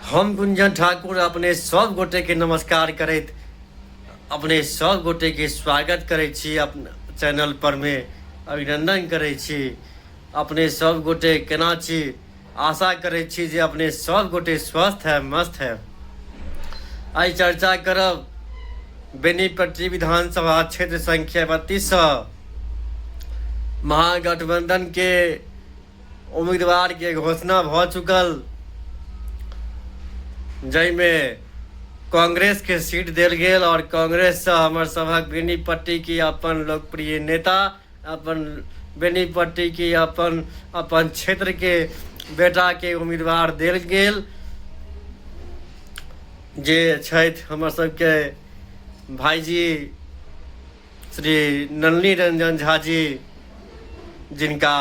हम गुंजन ठाकुर अपने सब गोटे के नमस्कार करैत अपने सब गोटे के स्वागत करै छी अपन चैनल पर मे अभिनंदन करै छी अपने सब गोटे केना छी आशा करै छी जे अपने सब गोटे स्वस्थ है मस्त है आइ चर्चा करब बेनीपट्टी विधानसभा क्षेत्र संख्या बत्तीस महागठबंधन के उम्मीदवार के घोषणा भ चुकल जय में कांग्रेस के सीट देल गेल और कांग्रेस से हमर सभक बेनीपट्टी के अपन लोकप्रिय नेता अपन बेनीपट्टी के अपन अपन क्षेत्र के बेटा के उम्मीदवार देल गेल जे छथि हमर सबके भाईजी श्री नलनी रंजन झा जी जिनका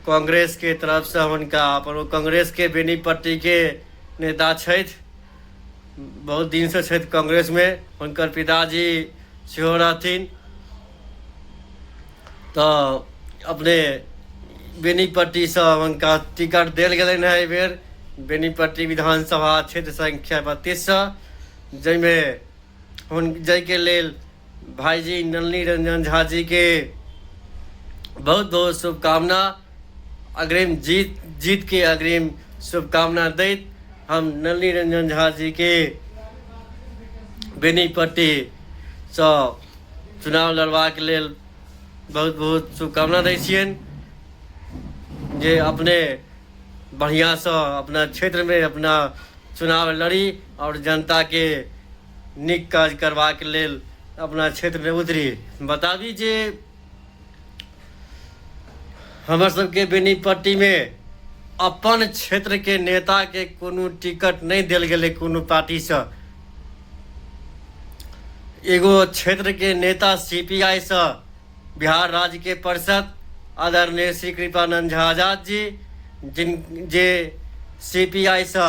कांग्रेस के तरफ से हुनका अपन कांग्रेस के बेनी पट्टी के नेता छथि बहुत दिन से छथि कांग्रेस में हुनकर पिताजी सेहो रहथिन तो अपने बेनी पट्टी से हुनका टिकट देल गेलनि है एहि बेर बेनी पट्टी विधानसभा क्षेत्र संख्या बत्तीस से जाहिमे हुन जाहिके लेल भाई जी नलनी रंजन झा जी के बहुत बहुत शुभकामना अग्रिम जीत जीत के अग्रिम शुभकामना दैत हम नलनी रंजन झा जी के बेनीपट्टी सँ चुनाव लड़बाक लेल बहुत बहुत शुभकामना दै छियनि जे अपने बढ़िआँसँ अपना क्षेत्रमे अपना चुनाव लड़ी आओर जनताके नीक काज करबाक लेल अपना क्षेत्रमे उतरी बताबी जे हमर सबके बेनीपट्टीमे अपन क्षेत्रके नेताके कोनो टिकट नहि देल गेलै कोनो पार्टीसँ एगो क्षेत्रके नेता सी पी आइसँ बिहार राज्यके परिषद आदरणीय श्री कृपानंद झा आजाद जी जिन जे सी पी आइसँ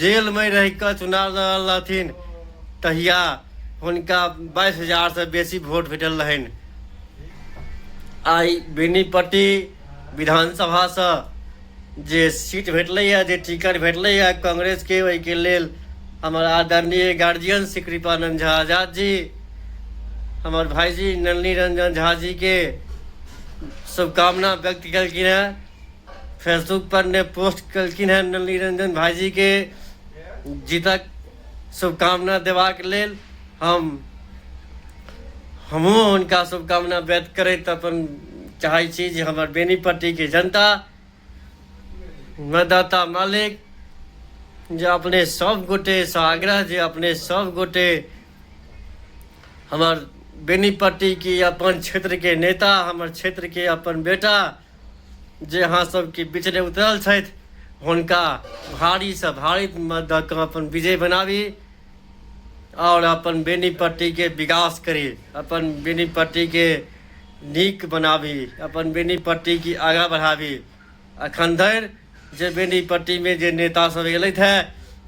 जेलमे रहिकऽ चुनाव लड़ल रहथिन तहिया हुनका बाइस हजारसँ बेसी वोट भेटल रहनि आइ बेनीपट्टी विधानसभासँ जे सीट भेटलैए जे टिकट भेटलैए कांग्रेसके ओहिके लेल हमर आदरणीय गार्जियन श्री कृपानंद झा आजाद जी हमर भाईजी नलनी रंजन झा जी के शुभकामना व्यक्त केलखिन हैं फेसबुक पर ने पोस्ट कलखिन हैं नली रंजन भाईजी के जीतक शुभकामना देवाक लेल हम हमहूँ हुनका शुभकामना व्यक्त करैत अपन चाहै छी जे हमर बेनीपट्टीके जनता मतदाता मालिक जे अपने सब गोटे से आग्रह जे अपने सब गोटे हमर बेनीपट्टी की अपन क्षेत्र के नेता हमर क्षेत्र के अपन बेटा जे अहाँ सबके बिचले उतरल छथि हुनका भारीसँ भारी मत दऽ कऽ अपन विजय बनाबी आओर अपन बेनीपट्टीके विकास करी अपन बेनीपट्टीके नीक बनाबी अपन बेनीपट्टीके आगाँ बढ़ाबी एखन धरि जे बेनीपट्टीमे जे नेतासभ अयलथि हे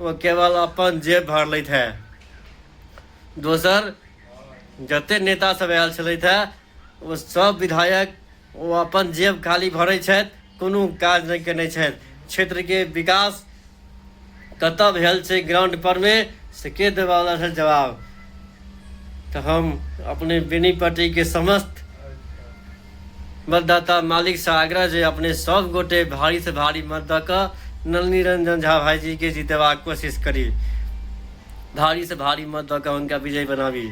ओ केवल अपन जेब भरलथि हे दोसर जतेक नेतासभ आयल छलथि हे ओ सभ विधायक ओ अपन जेब खाली भरै छथि कोनो काज नहि केने छथि क्षेत्रके विकास कतऽ भेल छै ग्राउंड परमे से के देवाला छथि जवाब तऽ हम अपने बेनी पार्टीके समस्त मतदाता मालिकसँ आग्रह जे अपने सब गोटे भारीसँ भारी मत दऽ कऽ नलनी रंजन झा भाईजीके जितेबाक कोशिश करी भारीसँ भारी मत दऽ कऽ हुनका विजय बनाबी